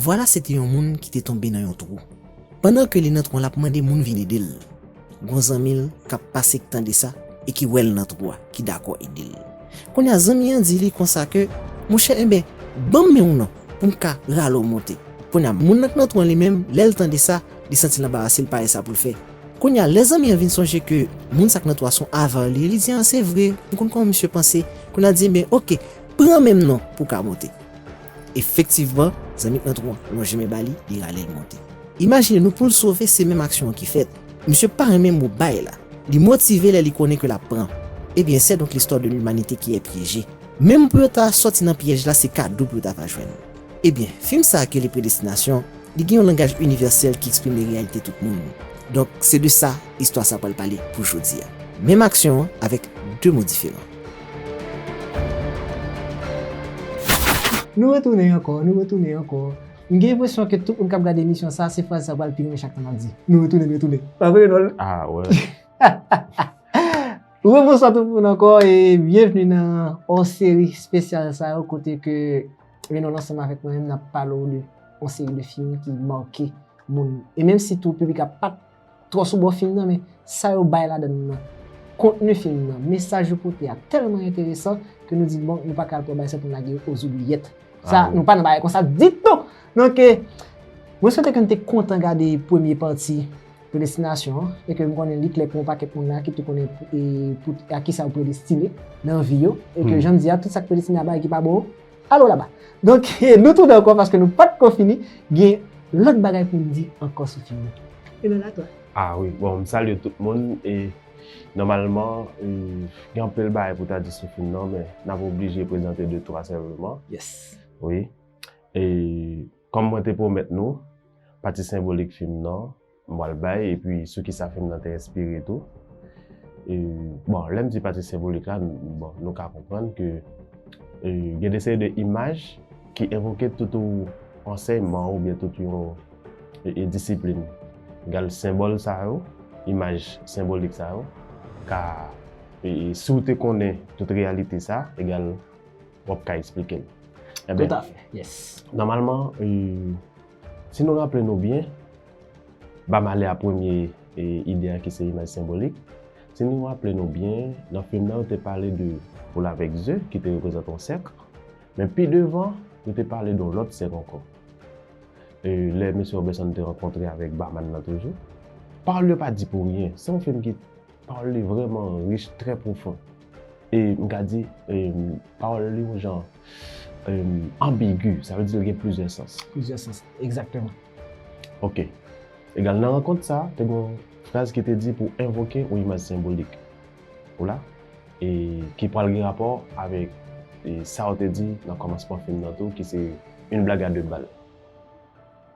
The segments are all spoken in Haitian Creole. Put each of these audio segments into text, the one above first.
Vwala se te yon moun ki te tonbe nan yon twou. Pandan ke li nan twou an lap mande moun vin ede l. Gon zanmi l kap pase k tande sa e ki wè l nan twou a ki dakò ede l. Kounye a zanmi an di li konsa ke, Monchè enben banm men w non pou m ka rale w monte. Kounye a moun nan k nan twou an li menm lè l tande sa li santi l anbarase l pa wè sa pou l fè. Kounye a, lè zanmi an vin sonje ke moun sa k nan twa son avar li, li di, A, se vre, m konn kòman misye panse. Kounye a, l di, Enben, oke, pran men m non pou w ka monte. Efektivman, zanmi k nan twa an lonje men ba li, li rale l monte. Imajine nou pou l sove, se menm aksyon an ki fèt. Misye pa renmen mo bay la. Li motive lè li konnen ke l ap pran. Ebyen, sè donk listwa de limanite ki è pyeje. Menm pou yo ta sòti nan pyèj la, se kado pou yo ta va jwenn. Ebyen, fim sa a ki rele Predestinasyon, li gen yon langaj inivèsèl ki eksprime reyalite tout moun. Donk, se de sa istwa sa a pral pale pou jodi a. Menm aksyon an avèk de mo diferan. Nou retounen ankò, nou retounen ankò. M gen enpresyon ke tout moun k ap gade emisyon sa a, se fraz sa yo pral pi renmen chak tan m ap di. Nou retounen, nou retounen. Pa vre, Renold? Ah wè. Rebonswa tout moun ankò e byenvni nan hors-série spesyal sa yo kote ke Lè nou ansanm avèk mwen menm nap pale w de yon seri de fim ki make moun. E menm si tou piblik la pat twò sou bò fim nan men sa yo bay ladan l lan, kontni fim nan, mesaj yo pote a tèlman enteresan ke nou di bon nou pa ka al pran bagay sa pou n lage yo oz oubliyèt. Sa nou pa nan bagay konsa ditou! Donk mwen swete ke n te kontan gade premye pati Predestinasyon an, e ke m konnen li klè pou yon pakèt moun la ki tou konnen a ki sa yo predestine nan vi yo, e ke jan m di a, tout sa k predestine a bagay ki pa bon yo, alo laba. Donk, nou tounen ankò paske nou pa t ko fini, gen lòt bagay pou m di ankò sou fim nan. Emmanuel, a toi. A wi, bon, m salye tout moun e nòmalman gen anpil bagay pou ta di sou fim nan men n ap oblije prezante de twa sèlman. Yes. Wi. E. Kòm mwen te pwomèt nou, pati senbolik fim nan, m pral bay, epi sou kisa fim nan te enspire tou. Bon, lè m di pati senbolik la, bon, nou ka konprann ke gen de seri de imaj ki evoke tout yon ansèyman oubyen tout yon disiplin. Gade senbòl sa yo, imaj senbolik sa yo ka, si w te konnen tout reyalite sa, egal. wap ka esplike l. Tout a fè, yes. Nòmalman, si nou raple nou byen, ba m ale a premye ide a ki se imaj senbolik. Si nou raple nou byen, nan fim nan yo te pale de poul avèk ze ki te reprezante yon sèk. Men pi devan, yo te pale de yon lòt sèk ankò. E lè Mesye Robenson te rankontre avèk Baman nan toujou, pawòl yo pa di pou ryen. Se yon fim ki. Pawòl li vrèman rich, trè pwofon. E m ka di, pawòl li yon jan anbigu, sa vle di l gen plizyè sans. Plizyè sans, egzakteman. Ok. Egal, nan rankont sa a, te gen yon fraz ki te di pou w envoke yon imaj senbolik. Ou la? E ki pral gen rapò avèk sa w te di nan kòmansman fim nan tou ki se Une blague à deux balles.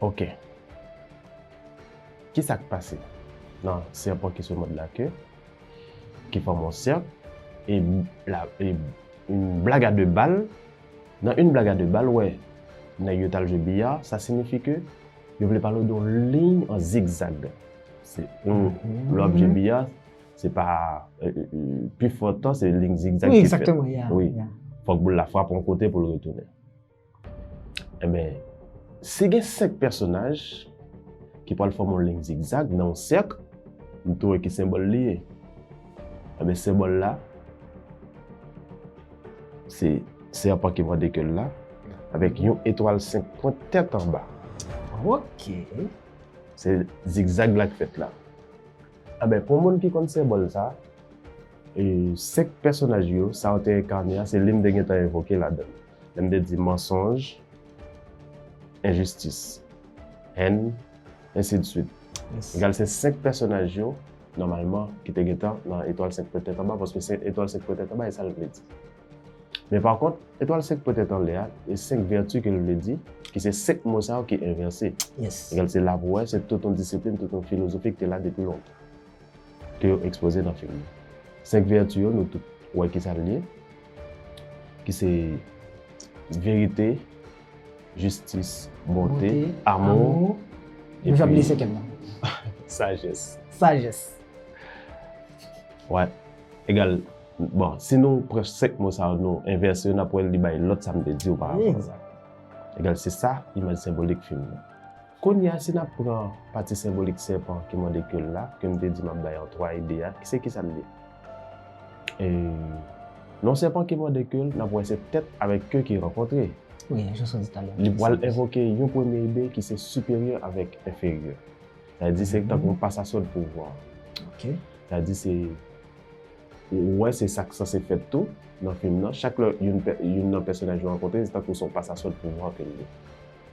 Ok. Ki sa k pase? Nan sèpan ki sou mòd la ke, ki fòm yon sèk, e la, e yon blag a de bal, nan yon blag a de bal, wè, nèg yo t'al jwe biya, sa sinifi ke yo vle pale w de yon liy an zigzag. Se yon, lè w'ap jwe biya, se pa, pi fò tan se liy zigzag ki fèt. Wi, egzakteman, ya, ya. Wi. Fòk boul la frape yon kote pou l retounen. Enben, si gen 5 pèsonaj ki pral fòme yon liy zigzag nan yon sèk, nou tou wè ki senbòl li ye. Enben, senbòl la se sèpan ki mòde ke l la avèk yon etwal 5 pwent tèt anba. Ok. Se zigzag la k fèt la. Enben, pou moun ki konn senbòl sa, 5 pèsonaj yo, sa yo te enkane a, se li m te gentan evoke ladan l. Lè m te di mansonj, enjistis, hèn, ensidsuit. Egal se 5 pèsonaj yo, nòmalman, ki te gentan nan Etwal 5 pwen tèt anba, paske se Etwal 5 pwen tèt anba e sa l vle di. Men pa kont, Etwal 5 pwen tèt anlè a, e 5 vèti ke l vle di, ki se 5 mo sa yo ki envèse. Egal se la pou wè, se tout yon disiplin, tout yon filozofi ki te la depi lontan. ke yo ekspoze nan fim nan. Senk vèti yo nou tout wè ki sa l ye, ki se verite, jistis, bonte, amou, epi sajès. Sajès. Wè, egal, bon, si nou pran senk mo sa yo nou envèse yo, n ap wè li bay lòt sa m te di yo pa avan. Egal, se sa imaj senbolik fim nan. Kounye a, si n ap pran pati senbolik sèpan ki mòde ke l la, ke m te di m ap bay an twa ide a, se kisa l ye? E non sèpan ki mòde ke l, n ap wè se tèt avèk ke ki rankontre. Wi, jan sot di talè a. Li pral envoke yon premye ide ki se siperyè avèk enferyè. Sa vle di se tankou yon pasasyon de pouvwa. Ok. Sa vle di se, ou wè se sa k sanse fèt tou nan fim nan, chak lè youn nan pèsonaj yo rankontre, se tankou se yon pasasyon de pouvwa ke l ye.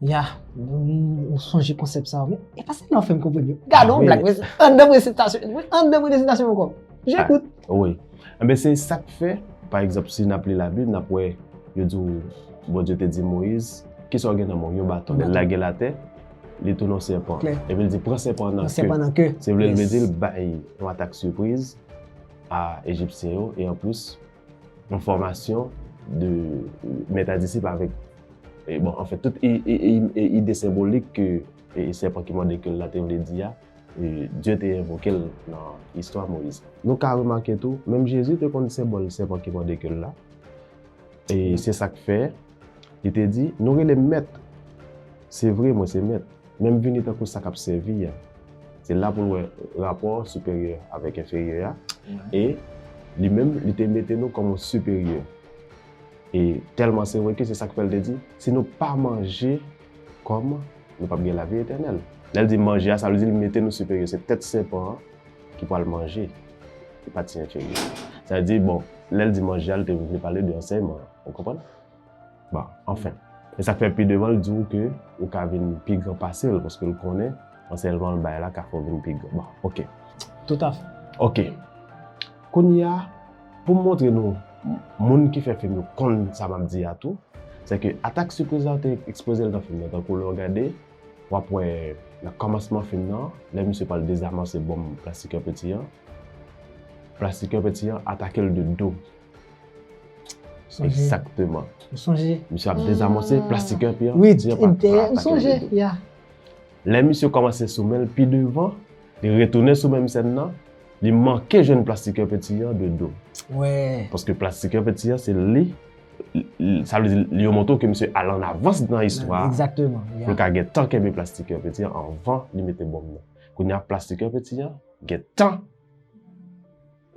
Ya, ou sonje konsèp sa ou. E pa se nan fèm konpwen yo. Gade ou blak, an de mwen sitasyon, an de mwen de sitasyon mwen konp. Je kout. Ouye. An be se sak fè, pa egzap si nap li la bib, nap wè, yo di ou, bon Diyo te di Moyiz, ki sa ou gen nan men ou? Yon baton. Lè lage la tè, li tou non sèpan. Klè. E bil di, pran sèpan nan kè. Pran sèpan nan kè. Se vle l vle di l bay yon atak sipriz a Ejipsyen yo, e an plis, Yon fòmasyon de mèt a disip avèk e bon anfen tout e ide senbolik ke e sèpan ki mòde ke l la te vle di a e Dye te envoke l nan istwa Moyiz. Nou ka remake tou menm Jezi te konn senbòl sèpan ki mòde ke l la e se sa k fè Li te di, Nou rele m mèt. Se vre, mwen se mèt, men m vini tankou sa k ap sèvi a. Se la pou n wè rapò siperyè avèk enferyè a. E, li menm, li te mete nou kòm yon siperyè. E, tèlman se vre ke se sa k fè l te di, Si nou pa manje kòm, nou pap gen lavi etènèl. Lè l di manje a, sa vle di l mete nou siperyè. Se tèt sèpan an ki pral manje, e pa ti enferyè a. Sa vle di, bon, lè l di manje a, li te vle pale de ansèyman an. Ou konprann? Bon, anfen. E sa k fè pi devan l di w ke ou ka vin pi gran pase l paske l konnen ansèyman l bay la ka fè w vin pi gran. Bon, oke. Toutafè. Oke. Kounye a, pou m montre nou moun ki fè fim yo konn sa m ap di a tou, se ke atak sipriz la yo te ekspoze l nan fim nan. Tankou lè w gade, w ap wè nan kòmansman fim nan, lè misye pral dezamanse bonm Plastikè Peti an, Plastikè Peti an atake l de do. Exactement. M sonje. Misye ap dezamonse plastik an pi an. Oui, m sonje, ya. Lè misye kòmanse sou menl pi devan, li retounen sou menm sèn nan, li manke jwenn plastik an penti an de do. Wè. Paske plastik an penti an se li, sa vle di yo montre w ke misye al an avans nan istwa a. Exactement, ya. Pou l ka gen tan kenbe plastik an penti an anvan li mete bonm nan. Kounya plastik an penti an gen tan.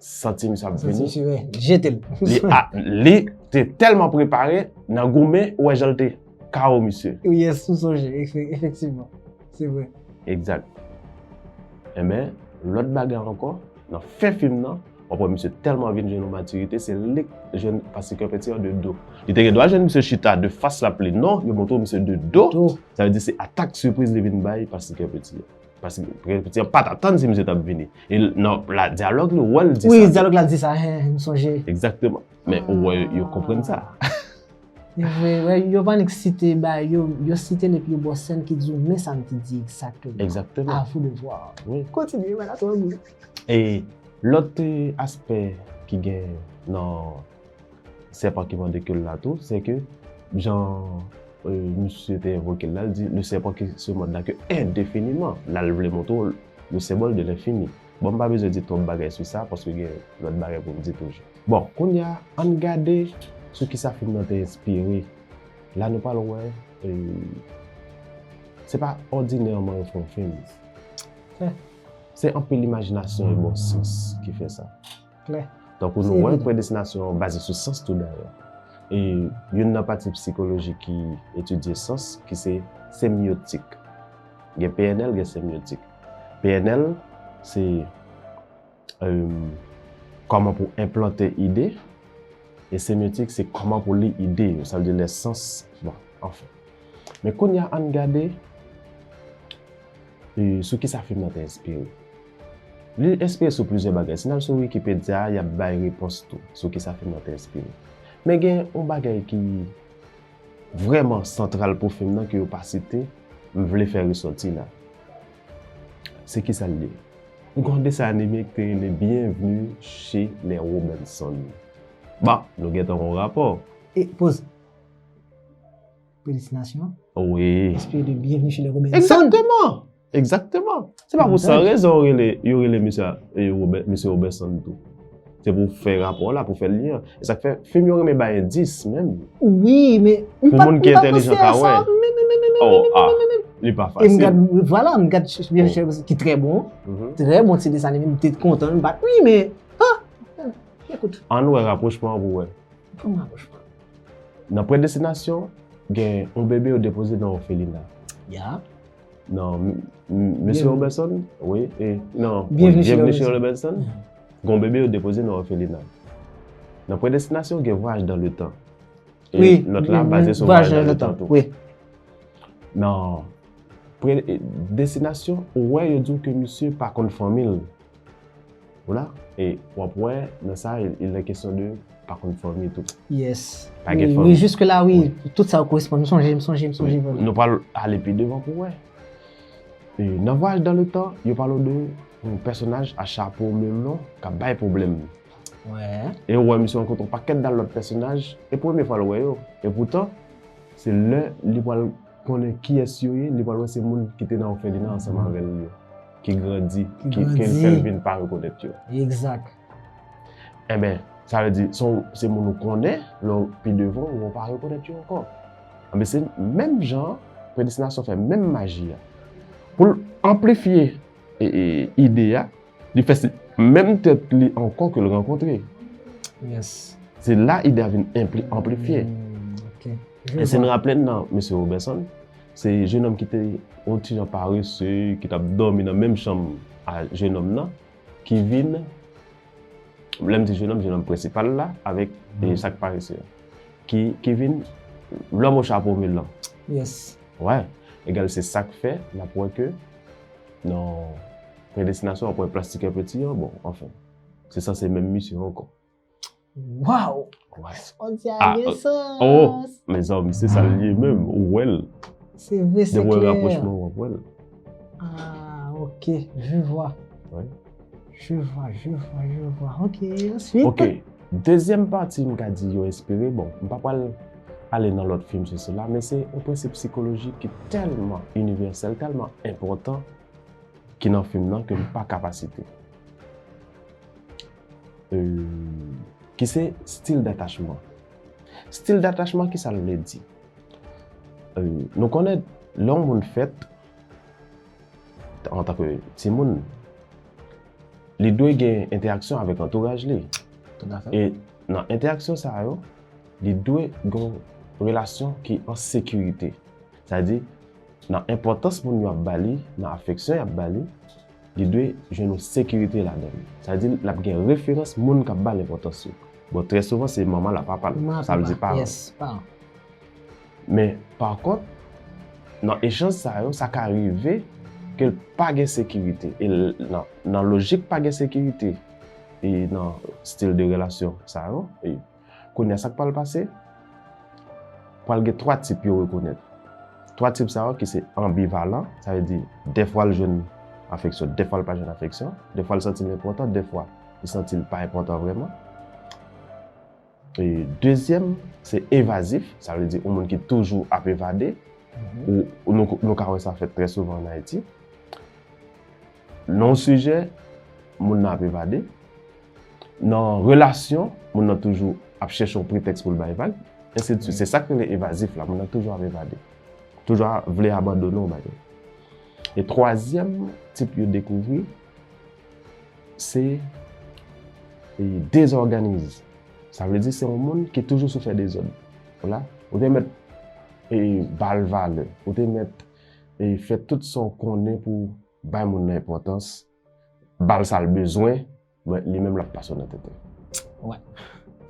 Santi misye ap vini. Santi misye ap jete l. Li te telman prepare nan goumen ou wè jan l te KO misye. Ou yes m sonje efektivman. Se vre. Egzat. Enben lòt bagay ankò nan fen fim nan wap wè misye telman vin jwenn yon matirite se lik jwenn pase kè pèti an de do. Li te gen dwa jwenn misye chita de fas lap li non yo montre w misye de do. Sa vle di se atak sipriz li vin bay pase kè pèti an. Paske premye pati an pat atann si misye tap vini. E nan la dyalog li wè l di sa. Wi dyalog la di sa he m sonje. Ekzakteman. Men ou wè yo konprann sa. Yo vwe wè yo pa nik site ba yo yo site l epi yo ba w sèn ki di w men sa m te di ekzakteman. Ekzakteman. A vou de vwa. Wi. Kontinye mwen la tande. E lòt aspè ki gen nan. Sèpan ki mòde ke l la tou, se ke jan misye te envoke l la, l di, le sèpan ki se mòde la ke endefiniman, la l vle montre w le senbòl de lenfini. Bon, m pa bezwen di twòp bagay sou sa, paske gen lòt bagay pou m di toujou. Bon, kounye a, an n gade sou ki sa fim nan te enspire. La nou pral wè, se pa òdinèman yo fè yon fim. Se anpil imajinasyon e bon sans ki fè sa. klè. Tankou nou wè, predestinasyon an baze sou sans tou dayè. E youn nan pati psikoloji ki etidye sans ki se semyotik. Gen pnl, gen semyotik. Pnl se kòman pou enplante ide, e semyotik se kòman pou li ide yo, sa vle di lè sans, bon, anfen. Men kounye a an n gade sou kisa fim nan te enspire. Li enspire sou plizyè bagay. Si n al sou Wikipedya a, y ap bay repons tou sou kisa fim nan te enspire. Men gen yon bagay ki vrèman santral pou fim nan ke yo pa site, m vle fè resòti la. Se kisa l ye? Gen yon desan anime ki te rele Bienvenue chez les Robinson. Bon, nou gentan wè yon rapò. E poz. Felisitasyon. Wi. Espri de byenvni chile Robinson. Ekzakteman! Ekzakteman! Se pa pou san rezon yo rele misye Misye Robinson tou. Se pou fè rapò la, pou fè lyen an. E sa k fè fim yo renmen bay endis menm. Wi, men m pa panse a sa menm menm menm. O a, li pa fasil. E m gad, vwala, m gad Misye Robinson ki trè bon. Trè bon ti desann anime, m te kontan m bat. Wi men, ha! Ekout. An wè rapwochman an pou wè. Fè m rapwochman. Nan predestinasyon, gen yon bebe yo depoze nan ofelina. Ya. Nan Mesye Robertson, wi, e nan Bienvenue chez Robertson, gen yon bebe yo depoze nan ofelina. Nan predestinasyon, gen vwaj dan le tan. E lòt la baze sou vwaj dan le tan tou. Wi. Nan predestinasyon, ou wè yo di w ke misye pa konn fanmi l. Vola e wap wè nan sa il nan kesyon de pa konn fòme tou. Yes. Pa gen fòme. Wi jiske la wi tout sa koresponn. M sonje, m sonje, m sonje vre. Nou pral ale pi devan pou wè. E nan vwayaj dan le tan yo pale w de yon pèsonaj a chapo melon kap bay pwoblèm. Wè. E ou wè misye rankontre yon pakèt dal lòt pèsonaj e premye fwa l wè yo. E poutan se lè li pral konnen kiyès yo ye li pral wè se moun ki te nan òfelina ansanm avè l yo. ki grandi, ki fèl vin pa rekonèt yo. Ekzak. Enben, sa vle di, se moun ou konnen, lè ou pi devan, ou pa rekonèt yo ankò. Enben, se menm jan, predestinasyon fè menm maji a. Pou l anplifye ide a, li fè se menm tèt li ankò ke l rankontre. Yes. Se la ide a vin anplifye. Ok. E se nou raple nan Mesye Roberson, Se jenòm ki te yon ti jan parese, ki t ap dòmi nan menm chanm a jenòm nan, ki vin, lè m di jenòm, jenòm prensipal la, avèk sa k parese a, ki vin lòm o chapo melan. Yes. Wè. Egal se sa k fè n ap wè ke nan Predestinasyon w ap wè Plastikè Peti an, bon, anfen, se sanse menm misyon ankò. Waw! Son di a ah, gen sans. Oh, men zanmi, se sa liye menm, ou wèl. Se vre, se klè. Depi rapwochman wap wèl. Ah, ok, je vwa. Oui. Je vwa, je vwa, je vwa. Ok, answit. Ok, dezyèm pati m ka di yo espere, bon, m pa pal ale nan lòt film se se la, men se yon prensip psikolojik ki tèlman universel, tèlman enpòtan ki nan film nan ke m pa kapasite. ki se stil datachman. Stil datachman ki sa l vle di? Nou konnen lè yon moun fèt an tanke ti moun, li dwe gen entèraksyon avèk antouraj li. E nan entèraksyon sa yo, li dwe gen relasyon ki an sekirite. Sa di, nan enpòtans moun yo ap ba li, nan afeksyon yo ap ba li, li dwe jwenn yon sekirite ladan li. Sa vle di l ap gen referans moun k ap ba l enpòtans yo. Bon, trè souvan se manman l ak papa l, sa vle di paran. Men, pakont, nan echanj sa yo, sa ka rive ke l pa gen sekirite. E nan lojik pa gen sekirite e nan stil de relasyon sa yo, Kounye a, sa k pral pase? Pral gen twa tip yo rekonèt. Twa tip sa yo ki se anbivalan, sa vle di defwa l jwenn afeksyon, defwa l pa jwenn afeksyon, defwa l santi l enpòtan, defwa li santi l pa enpòtan vrèman. E dezyèm, se evazif, sa vle di yon moun ki toujou ap evade, nou ka wè sa fèt trè souvan an Ayiti. Non sijè, moun nan ap evade. Nan relasyon, moun nan toujou ap chèche yon pretèks pou l bay vag. Ensi de swit. Se sa k rele evazif la. Moun nan toujou ap evade. Toujou ap vle abandone yon bagay. E twazyèm tip yo dekouvri, se dezòganize. Sa vle di se yon moun ki toujou sou fè dezòd. Ou te mèt ba l valè. Ou te mèt e fè tout sa w konnen pou w bay moun nan enpòtans, ba l sa l bezwen, men li menm l ap pase w nan tenten. Wè,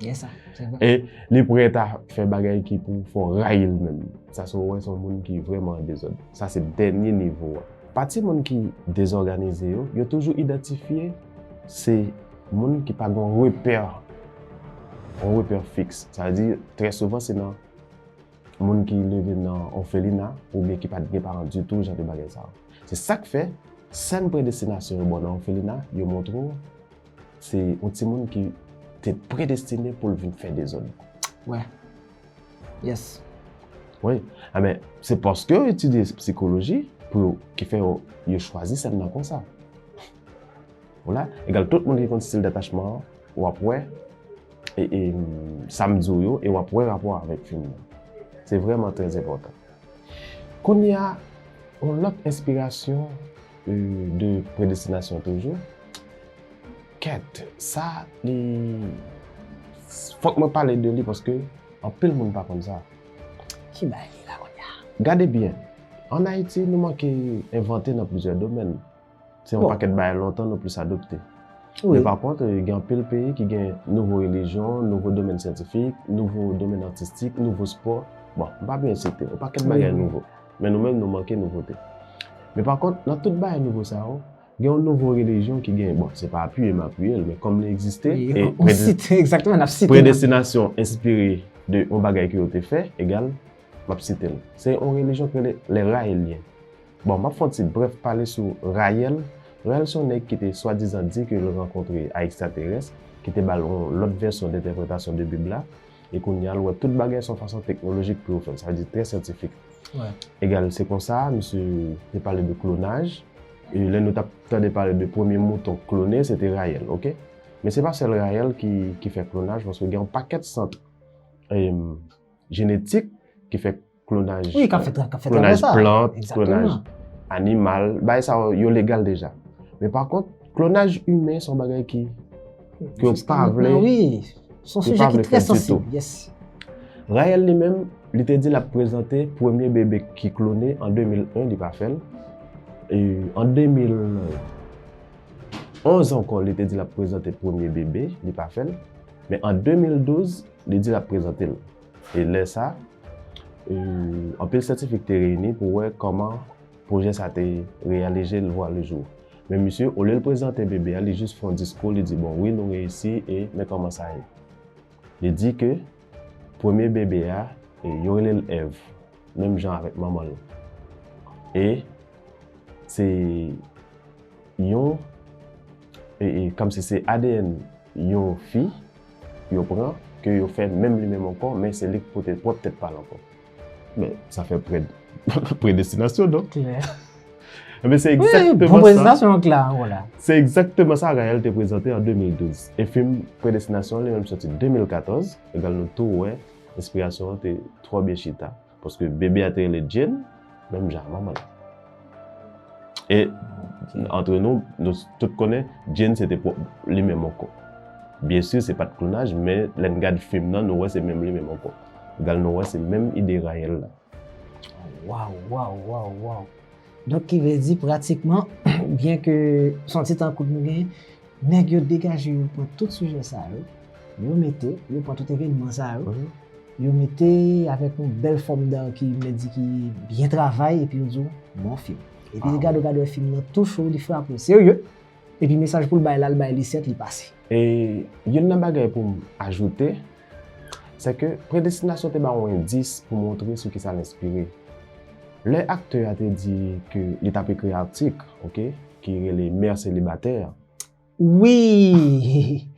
gen sa, se vre. E li prèt a fè bagay ki pou fè w rayi l menm. Sa se w wè se yon moun ki vrèman an dezòd. Sa se dènye nivo a. Pati moun ki dezòganize yo, yo toujou idantifye se moun ki pa gen yon repè, yon repè fiks. Sa vle di, trè souvan se nan. moun ki leve nan òfelina oubyen ki pa t gen paran ditou jan de bagay sa yo. Se sa k fè, sèn predestinasyon yo ba w nan òfelina yo montre w se yon timoun ki te predestine pou l vin fè dezòd. Wè. Yes. Wi. Enben, se paske yo etidye psikoloji pou yo ki fè yo chwazi sèn nan konsa. Vola, egal tout moun ki konn stil detachman an, w ap wè sa m di w yo e w ap wè rapò a avèk fim nan. Se vrèman trèzenpòtan. Kounye a, yon lòt enspirasyon de predestinasyon toujou. Kèt, sa li, fòk mwen pale de li paske anpil moun pa konn sa. Ki bagay la kounye a? Gade byen, ann Ayiti nou manke envante nan plizyè domèn. Se yon pakèt bagay lontan nou plis adopte. Men pa kont, gen anpil peyi ki gen nouvo relijyon, nouvo domèn syantifik, nouvo domèn atistik, nouvo spò, bon, m pa bliye site, yon pakèt bagay nouvo. Men nou menm nou manke nouvote. Men pa kont, nan tout bagay nouvo sa yo, gen yon nouvo relijyon ki gen, bon, se pa apiye m apiye l, men kòm li egziste, e predestinasyon enspire de yon bagay ki yo te fè, egal, m ap site l. Se yon relijyon ki rele le Raelien. Bon, m ap fè yon ti brèf pale sou Rayèl. Rayèl se yon nèg ki te swadizan di ke l rankontre a ekstraterès, ki te ba l yon lòt vèsyon dentèpretasyon de Bib la, e kounye a l wè tout bagay se yon fason teknolojik pou yo fè l, sa vle di trè syantifik. Egal, se konsa misye te pale de klonaj, e lè nou t ap tande pale de premye mouton klone, se te Rayèl, oke. Men se pa sèl Rayèl ki fè klonaj, paske gen yon pakèt sant jenetik ki fè. klonaj plant, klonaj animal, bay sa yo legal deja. Men pa kont, klonaj imen son bagay ki yo pa vle. Son sujè ki trè sansib. Rayèl li menm, li te di la prezante premye bebe ki klone an 2001, li pa fèl. En 2011 anko, li te di la prezante premye bebe, li pa fèl. Men an 2012, li di la prezante l. E lè sa, anpil syantifik te reyini pou wè kòman pwojè sa te reyalije l vwa le jou. Men misye, olye l prezante bebe a, li jis fè yon diskou, li di bon wi nou reyisi e men kòman sa ye. Li di ke premye bebe a, yo rele l Èv, menm jan avèk manman l. E se yon, kòmsi se adn yon fi. yo pran ke yo fè menm li menm ankò men se li k pote pwòp tèt pal ankò men sa fè prèd predestinasyon non klè men se ekzakteman sa se ekzakteman sa Gaëlle te prezante an 2012 e fim predestinasyon li menm soti 2014 egal nou tou wè enspirasyon an te twò byen chita. Paske bebe a te rele Jane, menm jan ak manman l. E, antre nou, nou tout konnen, Jane se te pwòp li menm ankò. Byen si, se pa t klonaj, men lè n gad fim nan, nou wè se menm li menm ankò. Gal nou wè se menm ide Raël la. Waw, waw, waw, waw. Donk ki vle di pratikman, byen ke son ti tan kout nou genyen, Nèg yo degaje yo pran tout sijè sa yo, yo mete, yo pran tout evènman sa yo, yo mete avèk yon bèl fòm dan ki mèt di ki byen travay epi yo di w bon fim. Epi li gade w, gade w e fim nan touche w, li frape w serye, epi mesaj pou l bay la, l bay Lisette li pase. E youn nan bagay pou m ajoute, se ke Predestinasyon te ba yon endis pou montre sou kisa l enspire. Lè aktè a te di ke li t ap ekri atik, ok, Ki rele mère célibataire. Wi!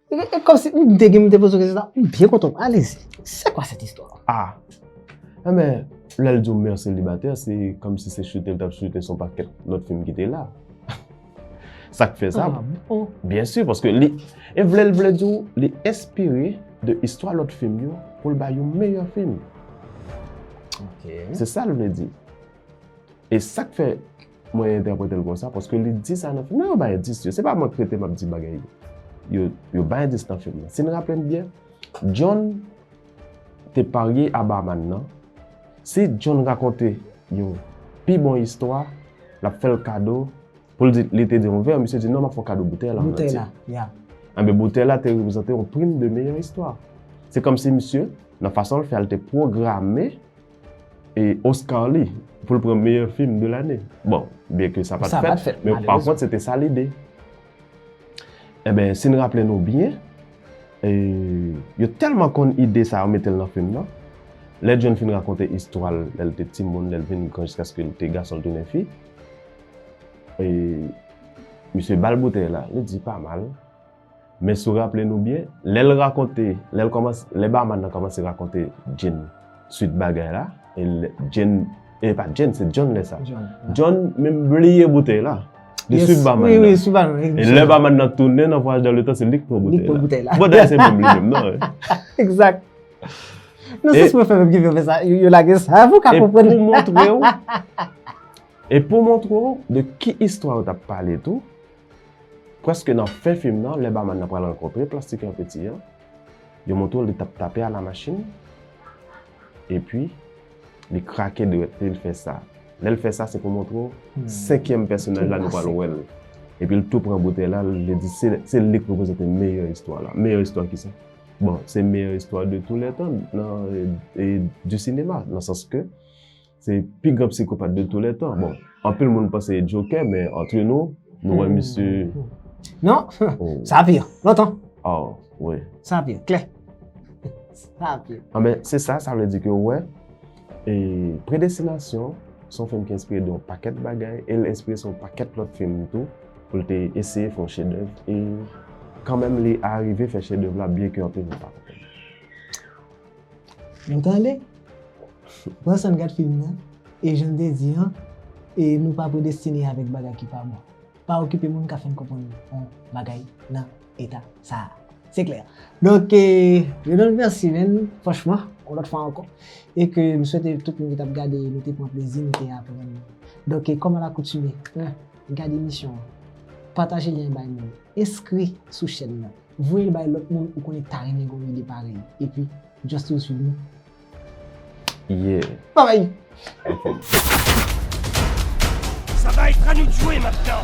E kom si m te gen m te poze w kesyon sa, m byen kontan. Alezi, se kwa sèt istwa? A! Enben, lè l di w mère célibataire, se kom si se chute l t ap chute son pakèt lòt fim ki te la. Sa k fè sa? A bon? Byen si, paske li, e vle l vle di w, li enspire de istwa lòt fim yo pou l bay yon meyè fim. Ok. Se sa l vle di. E sa k fè. Mwen entèprete l konsa paske li di sa nan fim nan. Yo bay endis yo. Se pa mwen k rete m ap di bagay yo. Yo bay endis nan fim nan. Si n raple n byen, John te parye a Barman nan. Si John rakonte yon pi bon istwa, l ap fè l kado pou l di li te di yon vè, misye di non m ap fè w kado boutèy la an antye. Boutèy la, ya. Enben boutèy la te reprezante yon prim de meyè istwa. Se kòmsi misye, nan fason l fè a, li te pwograme e Oscar li pou l pran meyè fim de lane. Bon, byen ke sa pa t fèt, men pa kont se te sa lide. Enben, si n raple nou byen, yo tèlman konn ide sa yo mete l nan fim nan, lè John fin rakonte istwa l lè l te timoun, lè l vin gran jiskaske l te gason l tounen fi, misye ba l boutèy la, li di pa mal. Men si w raple nou byen, lè l rakonte, lè l kòmanse, lè Barman nan kòmanse rakonte Jane swit bagay la, e Jane, e pa Jane, se John lè sa. John. John menm bliye boutèy la. Li Yes, swit Barman oui, nan. oui, sou ba nou. E lè Barman nan tounen nan Voyage dans le temps, se li k pran Li boutèy pran la. boutèy la. Bon, dayè se menm li menm nan. e. Exact. Non, E- se sou fè menm ki vin fè sa. Yo yo lage sa pou ka E konprann. pou montre w, e pou montre w de ki istwa yo t ap pale tou, Prèske nan fen fim nan, lè baman nan pral rankontre Plastik lan Peti an, yo montre w li t ap tape a la machin, epi li krake dwèt li, l fè sa. Lè l fè sa, se pou montre w senkyèm pèsonaj la nou pral wè l. Epi l tou pran boutèy la, li di se li k reprezante meyè istwa la. Meyè istwa ki sa? Bon, se meyè istwa de tou lè tan nan du cinéma, nan sans ke. Se pi gran psikopat de tou lè tan. Bon, anpil moun panse e Jokè, men antre nou, nou wè misye... Non, sa pi, lontan. Oh, oui. Sa pi, klè. Sa pi. Ah, men, se sa, sa vle di ke ou wè, e Predestinasyon, son film ki enspire de yon pakèt bagay, e l enspire sou yon pakèt lòt film tou, pou l te eseye fè yon chedèv, e kanmenm li arive fè chedèv la, byenke anpil moun pa konprann. Nou tande? Pran san gad film nan, e jan n te di an, e nou pa predestine avèk bagay ki pa bon. Pa okipe moun ka fè n konprann yon bagay nan eta sa a. Se klè. Donk, Renold mèsi men, franchman, yon lòt fwa ankò. E ke m swete tout moun ki t ap gade nou te pran plezi, nou te aprann. Donk, kòm a lakoutime, 1, gad emisyon an, pataje lyen an bay moun, enskri sou chèn nan. Voye l bay lot moun ou konnen ta renmen gon ide parèy epi just to swiv nou. Yeah. Babay! Sa va être à nous de jouer maintenant!